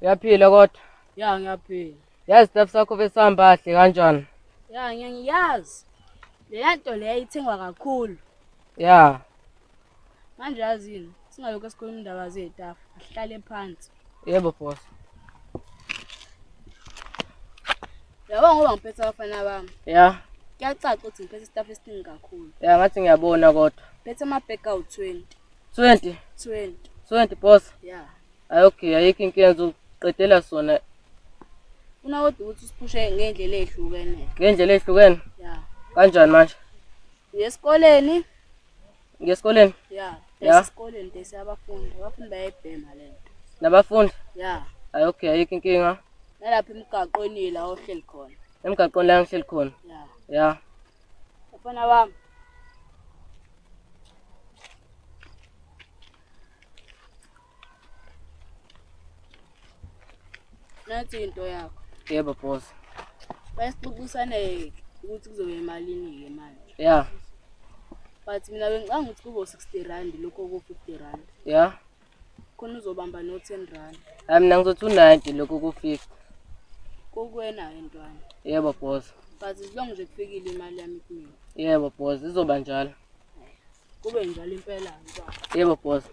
Uyaphila kodwa? Ya ngiyaphila. Yazi staff sakho besihamba kahle kanjani? Ya ngeke ngiyazi. Leya nto leya ithengwa kakhulu. Ya. Manje yazini singalokho sikhuluma indaba zetafu. Asihlale phansi. Yebo boss. Yabo ngoba ngiphethe abafana bami. Ya. Kuyacaca ukuthi ngiphethe staff esiningi kakhulu. Ya ngathi ngiyabona kodwa. Phethe ama bag awu 20. 20. 20. 20 boss. Ya. Hayi okay, ayikho inkinga ngizoqedela sona Funa kodwa ukuthi usiphushe ngendlela ehlukene. ngendlela ehlukene. Yeah. Kanjani manje? Uyesikoleni? Ngiyesikoleni Yeah. Yeah. Esikoleni desi abafundi. Abafundi bayayibhema le nto. nabafundi. Yeah. Hayi okay, ayikho inkinga. Nalapha emgaqweni la ohleli khona. Emgaqweni la ngihleli khona. Yeah. Ya. Mfana wami. Nathi into yakho. Yebo boss. Bayisixoxisane ukuthi kuzobe emalini ke manje. Yeah. But mina bengicanga ukuthi kubo 60 rand lokho ku 50 rand. Yeah. Khona uzobamba no 10 rand. Hayi mina ngizothi u 90 lokho ku 50. Kokwena entwana. Yebo boss. But as long nje kufikile imali yami kimi. Yebo boss, izoba njalo. Kube njalo impela baba. Yebo boss.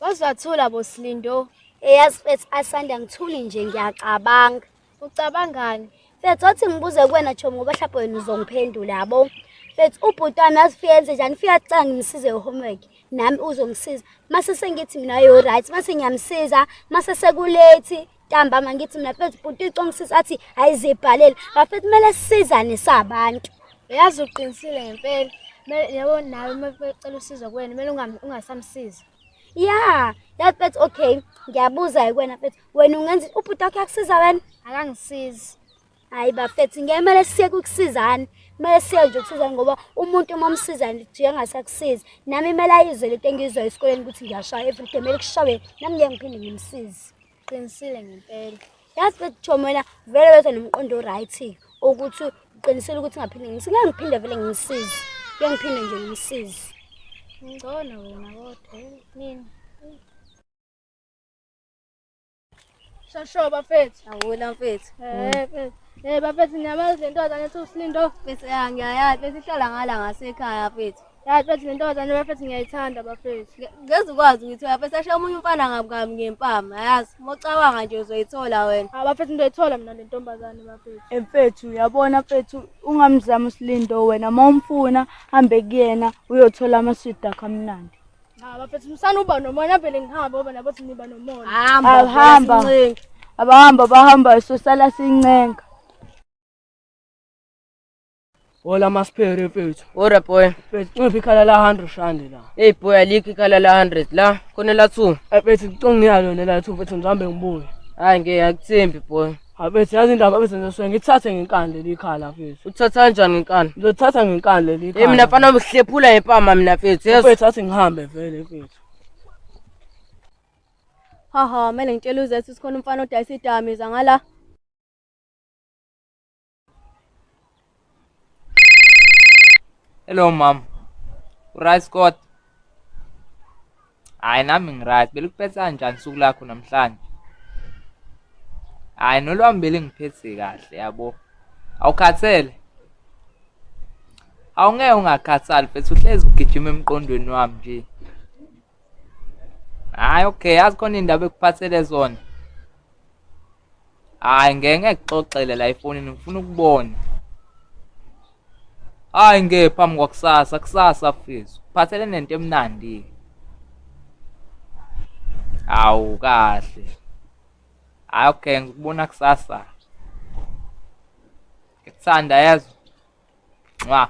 Wazathula boslindo. Eyazi mfethu asanda ngithuli nje ngiyacabanga. Ucabangani? Mfethu wathi ngibuze kuwena Chomi ngoba mhlawumbe wena uzongiphendula yabo. Mfethu ubhuti wami yazi ufike enze njani ufike acanga ngimsize homework nami uzongisiza. Mase sengithi mina yo right mase ngiyamsiza mase sekulate ntambama ngithi mina fethu bhuti uyicongisisa athi ayizibhalele bafethu kumele sisizane sabantu uyazi uqinisile ngempela yabo nawe uma becela usizo kuwena kumele ungasamsizi ya yazi fethu okay ngiyabuza-ke kuwena fethu wena ungenza ubhuti wakho yakusiza wena akangisizi Hayi bafethu ngeke kumele siye kukusizana. Kumele siye nje ukusizana ngoba umuntu uma umsiza nje engasakusizi. Nami kumele ayizwe lento engiyizwa esikoleni ukuthi ngiyashaya every day kumele kushawe nami ngeke ngiphinde ngimsize. Qinisile ngempela. Yazi bafethu Chomo wena vele wethu nomqondo right ukuthi uqinisile ukuthi ngaphinde ngimsize. Ngeke ngiphinde vele ngimsize. Ngeke ngiphinde nje ngimsize. Ngcono wena kodwa mina. Shasho bafethu. Awona mfethu. Eh mfethu. Eh bafethu niyamazi le ntombazane ethi uSlindo. Mfethu ya ngiyayazi bese ihlala ngala ngasekhaya mfethu. Ya mfethu le ntombazane bafethu ngiyayithanda bafethu. Ngeze ukwazi ukuthi bafethu ashe omunye umfana ngabukami ngempama. Yazi mocabanga nje uzoyithola wena. Ha bafethu ndoyithola mina le ntombazane bafethu. Emfethu eh, uyabona mfethu ungamzama uSlindo wena mawumfuna hambe kuyena uyothola amaswidi akho amnandi. Cha bafethu musana uba nomona vele ngihambe ngoba nabo siniba nomona. Hamba. Awuhamba. sincenga. Abahamba bahamba sosala sincenga. Hola masphere mfethu. Ora boy. Mfethu ncipha ikhala la 100 rand la. Hey boy alikho ikhala la 100 la. Khona la 2. Mfethu ngicongiyalo nela 2 mfethu ngihambe ngibuye. Hayi ngeke akuthembi boy. Abethe yazi indaba abethe ngizoswe ngithathe ngenkani leli khala mfethu. Uthatha kanjani inkani? Ngizothatha ngenkani leli Eh khala. mina mfana uhlephula ngempama mina mfethu. Yes. Mfethu athi ngihambe vele mfethu. Haha, mele ngitshele uZethu sikhona umfana odayisa idamiza ngala. Hello mama. Uryt Scott? Hayi nami ngiryt. Belikuphetha njani usuku lakho namhlanje? Hayi nolwami belingiphethe kahle yabo. Awukhathele? Awungeke ungakhathali mfethu uhlezi ugijima emqondweni wami nje. Hayi okay, yazi khona indaba ekuphathele zona. Hayi ngeke ngikuxoxele la efonini ngifuna ukubona. Hayi nge phambi kwakusasa kusasa mfethu. Kuphathele nento emnandi. Hawu kahle. Hayi okay ngikubona kusasa. Ngikuthanda yezwa. Nqwa.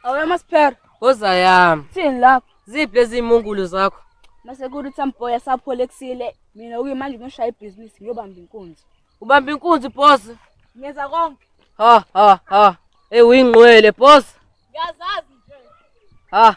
Awuya masiphera. Woza yami. Thini lapho? Ziphi lezi imungulu zakho? Mase kuthi amboya saphole kusile. Mina uke manje ngishaya ibhizinisi ngiyobamba inkunzi. Ubamba inkunzi boss. Ngenza konke. Ha ha ha. Hey uyingqwele boss. Ngiyazazi nje. Ha.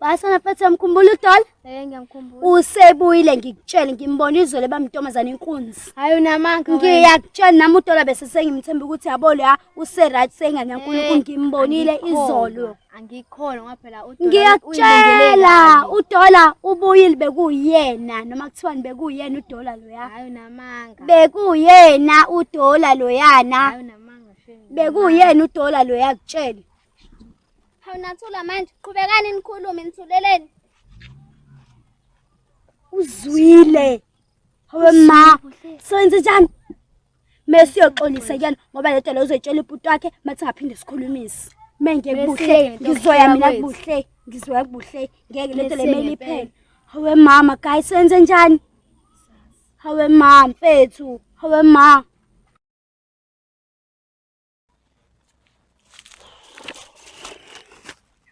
Wasana mfethu uyamkhumbula uDola? Eh ngiyamkhumbula. Usebuyile ngikutshele ngimbona izolo bamntombazana inkunzi. Hayi unamanga. Ngiyakutshela nami uDola bese sengimthemba ukuthi yabo la useright sengane yaNkulunkulu eh, ngimbonile izolo. Angikhona ngoba phela uDola Ngiyakutshela uDola ubuyile bekuyena noma kuthiwani bekuyena uDola loya. Hayi unamanga. Bekuyena uDola loyana. Hayi unamanga. Bekuyena uDola loya kutshela. Hawu nathula manje, qhubekani nikhulume nithuleleni. Uzwile. Hawe ma, senze njani? Mesiyoxolisa kuyena ngoba le nto leyo uzoyitshela ibhuti wakhe mathi ngaphinde sikhulumise. Menge kubuhle, ngizoya mina kubuhle, ngizoya kubuhle. Ngeke le nto le mele iphele. Hawe mama, guys senze njani? Hawe ma mfethu, hawe ma.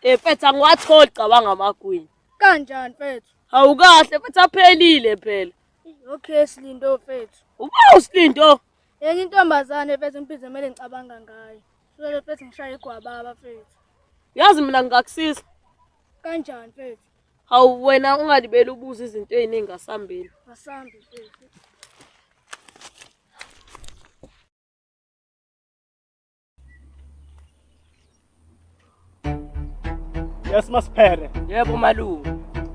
Eh mfethu angiwatholi cabanga amagwini. Kanjani mfethu? Awukahle mfethu aphelile phela. Okay silindo mfethu. Uba usilindo? Yenye intombazane mfethu imphize kumele ngicabanga ngayo. Sule mfethu ngishaya igwababa mfethu. Yazi mina ngingakusiza. Kanjani mfethu? Hawu wena ungalibeli ubuza izinto eziningi asambile. Asambe mfethu. Yes masiphere. Yebo malume.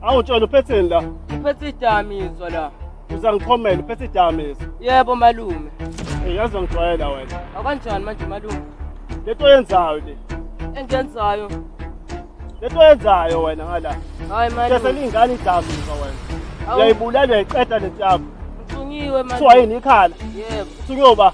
Awu tshela uphetheni la? Uphethe idamizwa la. Uzangiqhomela uphethe idamizwa. Yebo malume. Hey yazi ngijwayela wena. Akanjani manje malume? Lento oyenzayo le. Engenzayo. Lento oyenzayo wena ngala. Hayi malume. Kese lingane idamizwa wena. Uyayibulala uyayiqeda lento yakho. Ngithunyiwe malume. Kuthiwa yini ikhala? Yebo. Kuthiwa ba?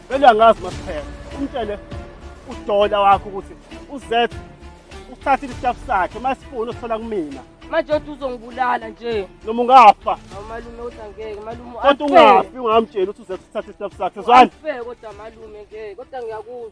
Vele angazi masiphela. Umtshele udola wakho ukuthi uZet usithathile isitafu sakhe masifuna usithola kumina. Manje uthi uzongibulala nje. Noma ungafa. Hawu malume uthi angeke malume. Kodwa ungafi ungamtsheli ukuthi uZet usithathile isitafu sakhe. Zwani? Ngeke kodwa malume ngeke kodwa ngiyakuzwa.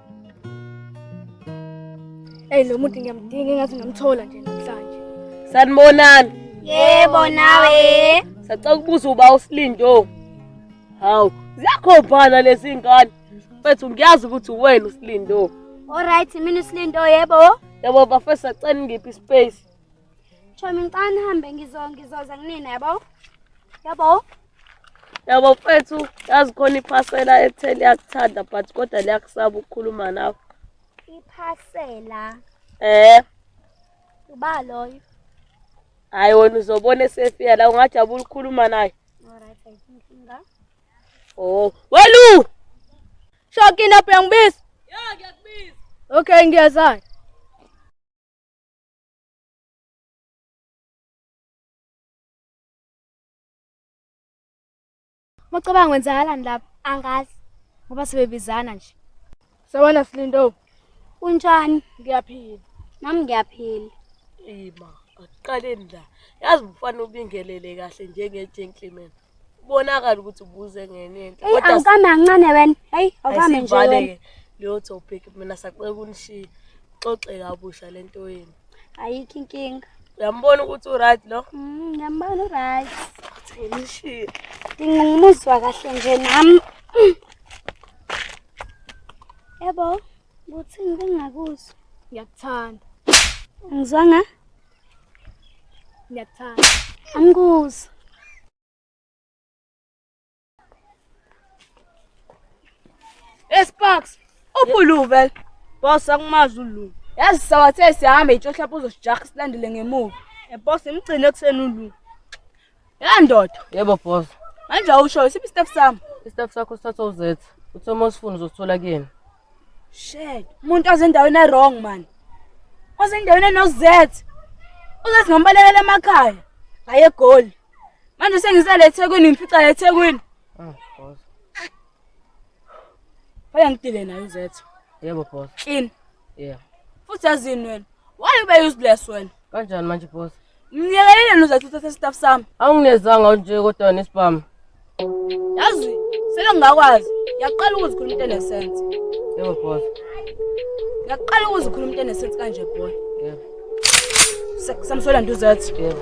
Hey lo muntu ngiyamdinga engathi ngamthola nje namhlanje. Sanibonani. Yebo nawe. Sacela ukubuza uba uSlindo. Hawu, ziyakhombana lezi ngane. Mfethu ngiyazi ukuthi uwena uSlindo. Alright, mina uSlindo yebo. Yebo bafesa cela ngiphi ispace. Chomi ngicane hambe ngizo ngizoza kunina yabo. Yabo. yabo mfethu yazi khona iphasela ekuthe liyakuthanda but kodwa liyakusaba ukukhuluma nawe iphasela eh uba loyo hayi wena uzobona esefika la ungajabula ukukhuluma naye oh welu shokile lapho yangibiza ya ngiyakubiza okay ngiyazana Mucabanga wenzakalani lapha? Angazi. Ngoba sebebizana nje. Sawona Slindo. Unjani? Ngiyaphila. Nami ngiyaphila. Ema, akuqaleni la. Yazi mfana ubingelele kahle njenge gentleman. Ubonakala ukuthi ubuze ngenye into. Hey, angikame ancane wena. Hey, awukame nje wena. Leyo topic mina sacela unishiya. Xoxe kabusha lento yenu. ayikho inkinga uyambona ukuthi uright lo mm, ngiyambona uright ngishiye nginqumuzwa kahle nje nami yebo kuthini bengingakuzwa ngiyakuthanda ngizwanga ngiyakuthanda angikuzwa Esparks, uphuluve. Boss akumazi uLulu. Yazi sawathe sihambe itshohla lapho uzosijaha silandele ngemuva. Boss imgcine ekuseni uLulu. Ya ndoda, Yebo boss. manje awusho isiphi step sami? Istaff sakho sithatha uZetha. Uthe uma usifuna uzosithola kuyena. Shit, umuntu ozendaweni ewrong man. Ozendaweni enoZ. Uzathi ngambalekela emakhaya. Hayi egoli. Manje sengisele eThekwini ngifica eThekwini. Ah, boss. Baya ngidile nayo uZ. Yebo boss. Clean. Yeah. Futhi yazini wena. Why ube useless wena? Kanjani manje boss? Ngiyekelile nozathu uthathe staff sami. Awunginezanga unje kodwa nesibhamu. Yazi sele ngingakwazi. Ngiyaqala ukuzikhuluma into enesense. Yebo boss. Ngiyaqala ukuzikhuluma into enesense kanje boy. Yebo. Samsola nduzathi. Yebo.